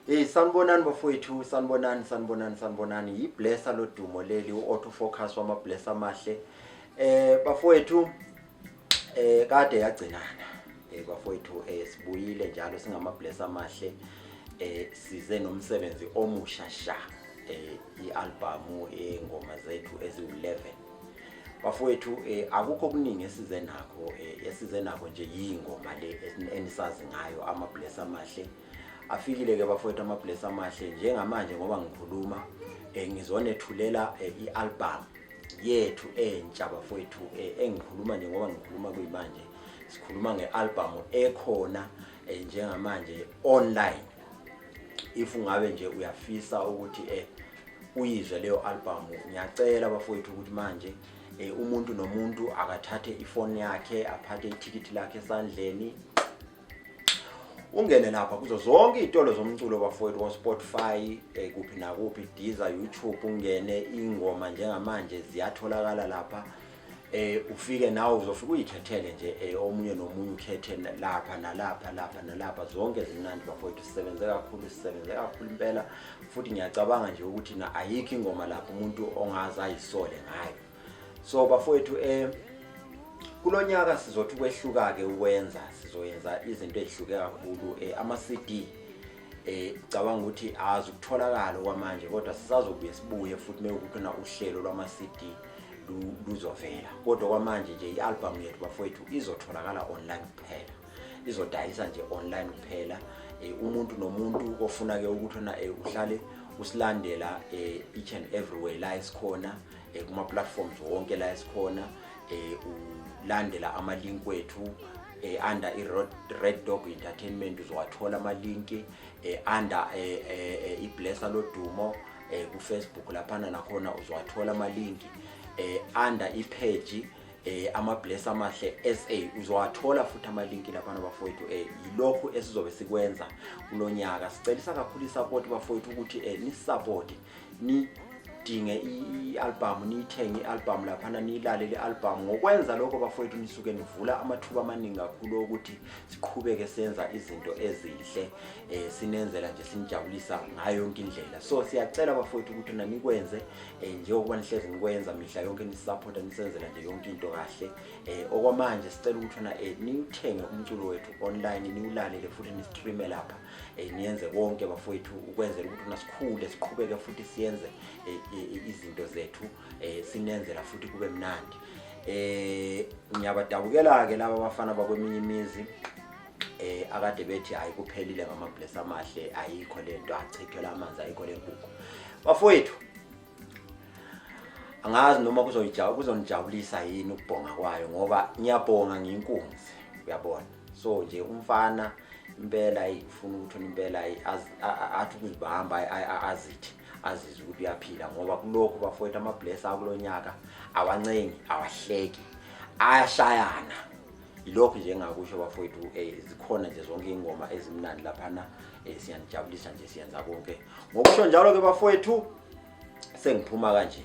Hey sanibonani bafowethu sanibonani sanibonani sanibonani yiblessa lodumo leli u-auto focus wamablessa amahle eh bafowethu eh kade yagcinana eh bafowethu eh sibuyile njalo singamablessa amahle eh size nomsebenzi omusha sha eh ialbum engoma zethu eziwu11 bafowethu eh akukho kuningi esize nakho eh esize nakho nje yingoma le enisazi ngayo amablessa amahle eh, afikile-ke bafowethu amabless amahle njengamanje ngoba ngikhuluma um ngizonethulela um i-albhamu yethu entsha bafowethu um engikhuluma nje ngoba ngikhuluma kuyimanje sikhuluma nge-albhamu ekhona um njengamanje online if ungabe nje uyafisa ukuthi um uyizwe leyo albhamu ngiyacela bafowethu ukuthi manje um umuntu nomuntu akathathe ifoni yakhe aphathe ithikithi lakhe esandleni ungene lapha kuzo zonke iy'tolo zomculo bafowethu ko-spotify eh, kuphi nakuphi diza youtube ungene ingoma njengamanje ziyatholakala lapha eh ufike nawe uzofika uyikhethele nje eh, omunye nomunye ukhethe lapha nalapha lapha nalapha zonke zimnandi bafowethu sisebenze kakhulu sisebenze kakhulu impela futhi ngiyacabanga nje ukuthi na ayikho ingoma lapho umuntu ongaze ayisole ngayo so bafowethu eh kulonyaka sizothi kwehluka ke ukwenza sizoyenza izinto ezihluke kakhulu eh ama CD eh cabanga ukuthi azi ukutholakala kwamanje kodwa sisazobuye sibuye futhi mewukuthi na uhlelo lwama CD luzovela kodwa kwamanje nje ialbum yethu bafowethu izotholakala online kuphela izodayisa nje online kuphela eh, umuntu nomuntu ofuna ke ukuthi na eh, uhlale usilandela eh, each and everywhere la isikhona eh, kuma platforms wonke la esikhona eh, ulandela ama link wethu eh, under i Red Dog Entertainment uzowathola ama link eh, under eh, eh, eh i Blesser lodumo eh, ku Facebook laphana nakhona uzowathola ama link eh, under i page eh ama bless amahle SA uzowathola futhi ama link lapha nabafowethu eh yilokho esizobe sikwenza kulonyaka sicelisa kakhulu support bafowethu ukuthi eh ni support nidinge i-albhamu niyithenge i-albhamu laphana niyilalele i-albhamu ngokwenza lokho bafowethu nisuke nivula amathuba amaningi kakhulu okuthi siqhubeke senza izinto ezinhle um sinenzela nje sinijabulisa ngayo yonke indlela so siyacela bafowethu ukuthi nanikwenze um njengokuba nihlezi nikwenza mihla yonke nisisaphotha nisenzela nje yonke into kahle um okwamanje sicela ukuthi na um niwuthenge umculo wethu online niwulalele futhi nistreame lapha eh, niyenze konke bafowethu ukwenzela ukuthi nasikhule siqhubeke futhi siyenze eh, eh, izinto zethu eh, sinenzela futhi kube mnandi eh ngiyabadabukela ke laba bafana bakweminye imizi eh akade bethi hayi kuphelile ngama bless amahle ayikho lento achithela amanzi ayikho lenkukhu bafowethu angazi noma kuzoyijabula kuzonijabulisa yini ukubhonga kwayo ngoba ngiyabhonga nginkunzi uyabona so nje umfana impela ayifuna ukuthi impela athi ukuzibamba azithi azizwe ukuthi uyaphila ngoba kulokhu bafowethu amabless akulo nyaka awancengi awahleki ayashayana ilokhu nje engakusho bafowethu um zikhona nje zonke iy'ngoma ezimnandi laphana um siyanijabulisa nje siyenza konke ngokusho njalo ke bafowethu sengiphuma kanje